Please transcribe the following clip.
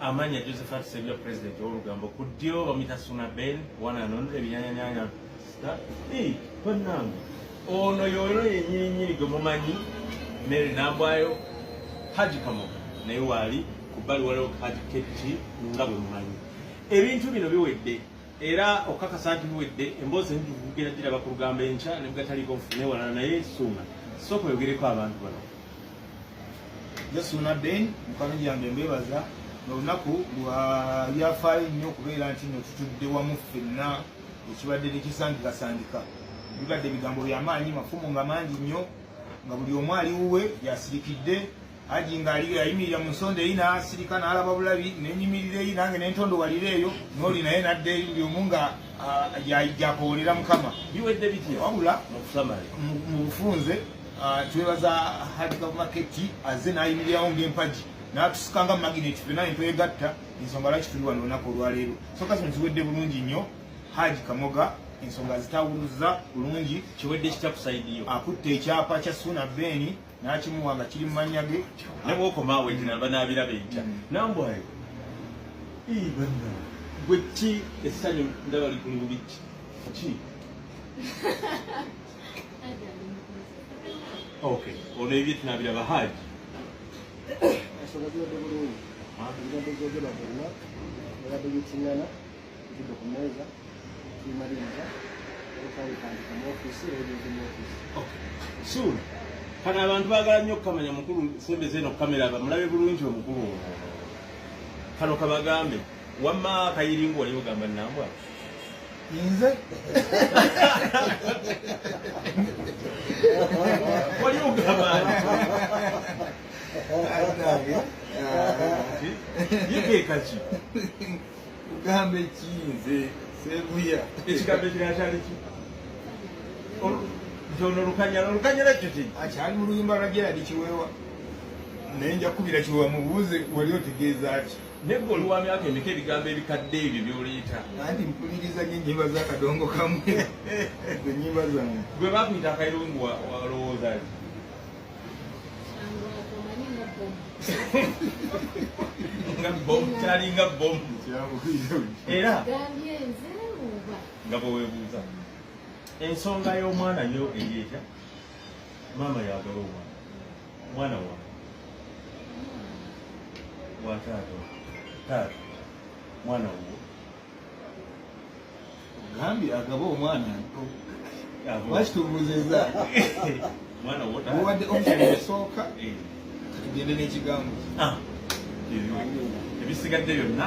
Amanya Josephat Sebya president olugambo ku ddyo bamuyita Suna Ben wananonda ebinyanyanyanya sita ii bannange ono yoyo yenyirinnyiri gwe mumanyi Mary Nambwayo Haji Kamoga naye waali ku bbali waliwo Haji KT nga bwe mumanyi ebintu bino biwedde era okukakasa nti biwedde emboozi enjukugera giraba ku lugambo enkya ne bwgataliiko nfune walala naye Suna sooka oyogereko abantu bano Yesu Naden mukama yange mbebaza olunaku lwa byafaayo nnyo okubeera nti no tutudde wamu ffenna ekibadde tekisangikasangika bibadde ebigambo byamaanyi mafumu nga mangi nnyo nga buli omu ali wuwe yasirikidde aji ngaali yayimirira mu nsonda eyi nasirika nalaba bulabi nenyimirira eyi nange nentondo walira eyo noli naye nadde buli omu nga ah, yakoolera mukama biwedde bitya wabula mu bufunze Ah, twebaza hadi kamaketi aze nayimirirawo ng'empagi n'atusika nga magineti fena entwegatta ensonga lwaki tuli wano olunaku olwaleero soka zino ziwedde bulungi nnyo haji kamoga ensonga zitawuluza bulungi kiwedde kitya kusaidiyo akutte ekyapa kya suuna beeni n'akimuwa nga kiri mu mannya ge nebwokomaawo ekinaba naabiraba entya mm. nambwayo banna gwe ki essanyu ndaba likulu bubiki ki Okay. Ono ebye tunabira bahaji. Asobodde bulungi. Ah. Ngado zogera bonna. Ngado yitingana. Ngado kumeza. Kimaliza. Okali kandi mu ofisi eyo mu ofisi. Okay. Soon. Kana abantu bagala nnyo okumanya mukulu sembeze eno kamera bamulabe bulungi omukulu. Kano kabagambe. wamma kayiringa oli ogamba nambwa nze oli ogamba yekekaki kugamba ekinze sebuya ekigambo ekirala kyali ki nti ono olukanyala olukanyala ekyo ki akyali mu luyimba lwa geradi kiweewa naye nja kukubira kiweewa mubuuze wali otegeeza ki Naye gwe oli wa myaka emeka ebigambo ebikadde ebyo byoleeta. Anti mpuliriza nyo ennyimba za kadongo kamu ennyimba zange. Gwe bakuyita akayirungu walowooza ki? nga bomu kyalinga bomu era nga bwewebuuza ensonga y'omwana yo eri etya maama yagala omwana mwana wa wa taata taata mwana wo ogambye agaba omwana lwaki tubuuzizza mwana wo taata mubadde omusoma osooka eh. katugende n'ekigambo ah. ebisigadde byonna